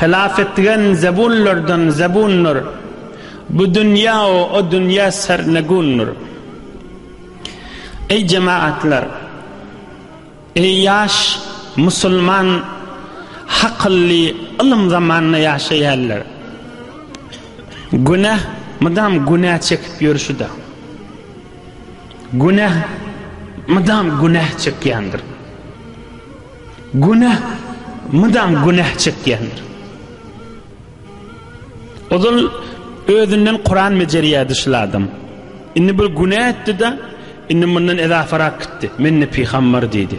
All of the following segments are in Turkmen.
Hylap etgen zebunlardan zebunlar, Bu dünýä we o dünýä sernegundyr. Eý jemaatlar! Eý ýaş musulman hakylly ylym zamanynda ýaşaýanlar! Günäh mydam günä çekip ýörşüde. Günäh mydam günäh çekýändir. Günäh mydam günäh çekýändir. Ozal özünden Kuran mejerýärdi şul adam. Indi bir günäh etdi-de, indi mundan edafarak gitdi. Men-de pygambar diýdi.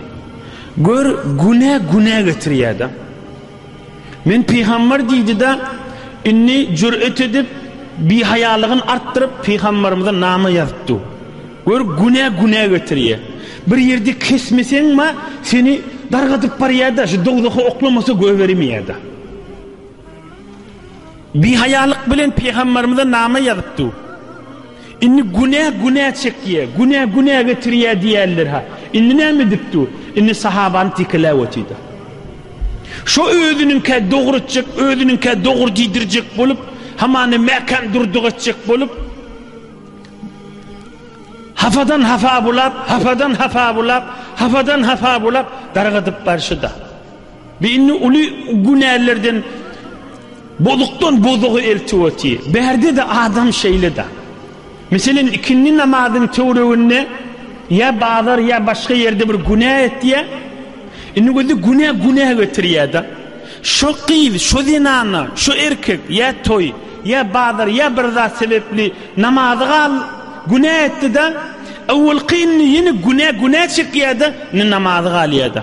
Gör, günäh günäh getirýär-de. Men pygamber diýdi-de, indi jür'et edip, bihaýalygyn artdyryp, pygamberimize nama ýazyp dur. Gör, günä günä getirýä. Bir ýerde kesmeseň-ma, seni dargadyp barýa-da, şu dowzaha oklamasa göberimeýä-da. Bihaýalyk bilen pygamberimize nama ýazyp dur. Indi günä günä çekýä, günä günä getirýä diýerler-hä. Indi näme edip dur? Indi sahabany tekeläp otyr-da. Şo özüniňkä dogry etjek, özüniňkä dogry diýdirjek bolup, hamana mäkäm durdyk etjek bolup, hapadan hapa bulap, hapadan hapa bulap, hapadan hapa bulap dargadyp barşy-da. Bu indi uly günälerden bozukdan bozugy eltip otyr. Bärde-de adam şeýle-de. Meselem, ikindi namazyň töwreginde ýa bazar ýa başga ýerde bir günä etýär. Indi gözi günä günä getirýär-de. Şo gyz, şo zenana, şo erkek ýa toý, ýa bazar ýa bir zat sebepli namazy gal günä etdi-de, öwelki indi ýene günä günä çekýär-de, indi namazy galýar-da.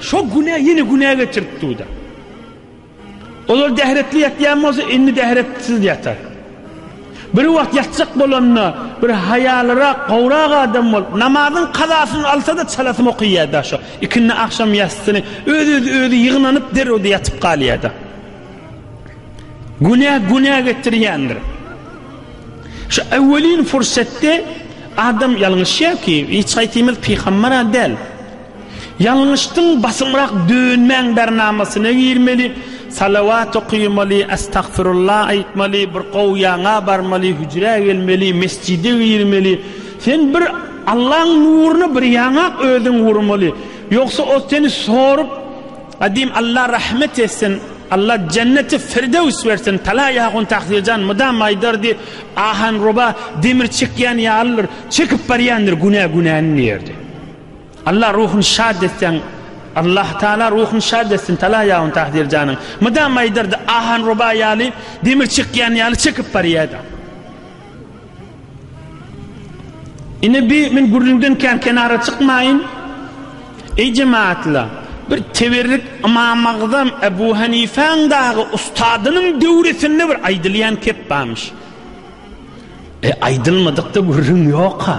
Şo günä ýene günä getirip dur-da. Olar dähretli ýatýan bolsa, indi dähretsiz ýatar. Bir wagt ýatjak bolanda, bir haýalyrak, gowrak adam bolup, namazyň kazasyny alsa-da, çalasyny okaýýar-da şo ikindi agşam ýassyny, öz-öz özi ýygnanyp, derrew-de ýatyp galýar-da. Günä günä getirýändir. Şu öwelin pursatda adam ýalňyşýar ki, hiç haýsymyz pygamber-a däl. Ýalňyşdyň basymrak dönmäň bernamasyna girmeli salawat okymaly astagfyrulla aýtmaly bir gowy ýaňa barmaly hüjrä gelmeli mesjide girmeli sen bir Allaň nuryna bir ýaňak özüň urmaly ýogsa ol seni sorup Adim Alla rahmet etsin Alla jenneti firdews bersin tala ýahun taksirjan mydam aýdardy ahanroba demir çekýän ýalydyr çekip barýandyr günä günäni diýerdi. Allah ruhuny şad etseň Allah taala ruhuny şad etsin tala ýawun tahdir janyň mydam aýdardy ahan roba ýaly demir çykýan ýaly çekip barýada ine bi men gürrüňden kän kenara çykmaýyn eý jemaatla bir teberrik imam agzam ebu hanifäň dagy ustadynyň döwresinde bir aýdylýan kep barmyş e aýdylmadykda gürrüň ýok ha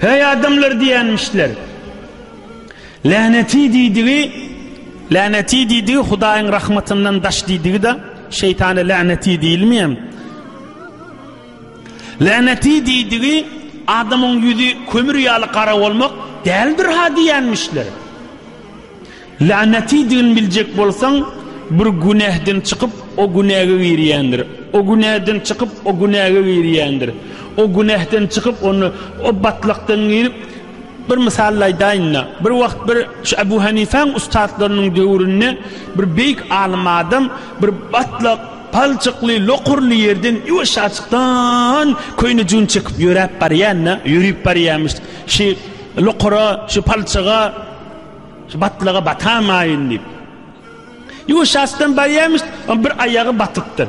Heý adamlar diýenmişler. Läneti diýdigi, läneti diýdigi Hudaýyň rahmatyndan daş diýdigi-de, şeýtana läneti diýilmeýär. Läneti diýdigi adamyň ýüzi kömür ýaly gara bolmak däldir ha diýenmişler. Lanetidigini biljek bolsaň, bir günäden çykyp, o günäge girýändir. O günäden çykyp, o günäge girýändir. O günäden çykyp, onda o batlakdan girip, bir mysal aýdaýyn-da, bir wagt bir şu Ebu Hanifäň ussatlarynyň döwründe bir beýik alym adam bir batlak, palçykly, lokurly ýerden ýuwaşjaçykdan köýne jübini çekip ýöräp barýan-da, ýörüp barýarmyş. Şu lokura, şu palçyga. Şu batlyga batamaýyn diýip. Ýuwy şasdan barýarmyş, on bir aýagy batypdyr.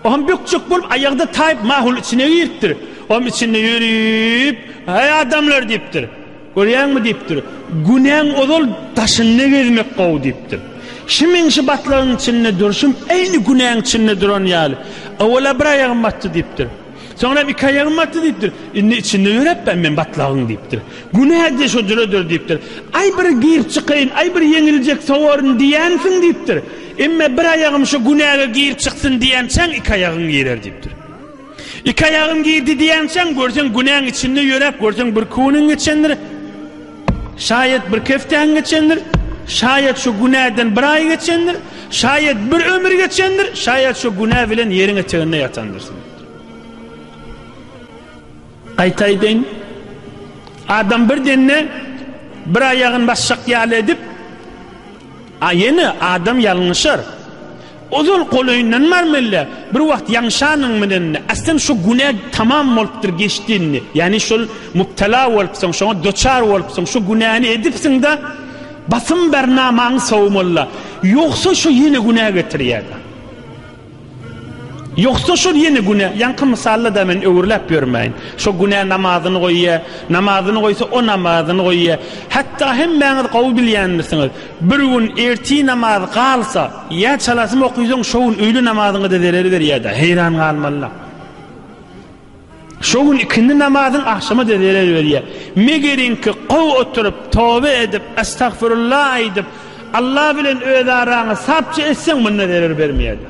Oňam bükjek bolup aýagda taýyp mahulyň içine giripdir. Oňam içinde ýörüp, Aý adamlar diýipdir. Görýäňmi diýipdir. Günäň ozal daşynda gezmek gowy diýipdir. Şu meň şu batlygyň içinde durşum eýni günäň içinde duran ýaly. Owala bir aýagym batdy diýipdir. Soňra hem iki aýagym batdy diýipdir. Indi içinde ýöräpdäm men batlagyň diýipdir. Günä-de şo jüredir diýipdir. Aý bir girip çykaýyn, aý bir ýeňiljek sowaryn diýensiň diýipdir. Emme bir aýagym şo günäge girip çyksyn diýençäň iki aýagyň girer diýipdir. Iki aýagym girdi diýençäň görseň günäň içinde ýöräp görseň bir kuniň geçendir. Şaýat bir keftäň geçendir, şaýat şu günäden bir aý geçendir, şaýat bir ömür geçendir, şaýat şu günä bilen ýeriň eteginde ýatandyrsyň. Gaýta aýdaýyn, adam bir denne bir aýagyny basjak ýaly edip, a ýene adam ýalňyşar. Ozal golaýyndan barmylla, bir wagt ýaňşanyň menende, aslym şu günä tamam bolupdyr geçdi indi. Ýagny şol mubtala bolupsyň, şoňa doçar bolupsyň, şu günäni edipsiň-de, basym ber namaňy sawmalla. Ýogsa şo ýene günä getirýär. Ýogsa şol ýene günä, ýaňky mysalla-da men öwürläp ýörmäýin. Şo günä namazyny goýýar, namazyny goýsa o namazyny goýýar. Hatda hemmäňiz gowy bilýändirsiňiz. Bir gün ertir namaz galsa, ýa çalasyn okysaň, şo gün öýle namazyňa-da zerer berýär-dä, heýran galmalyda. Şo gün ikindi namazyň agşama-da zerer berýär. Megeriňki, gowy oturyp, toba edip, estagfyrulla aýdyp, Alla bilen öz araňy sapja etseň, munda zerer bermeýär-dä.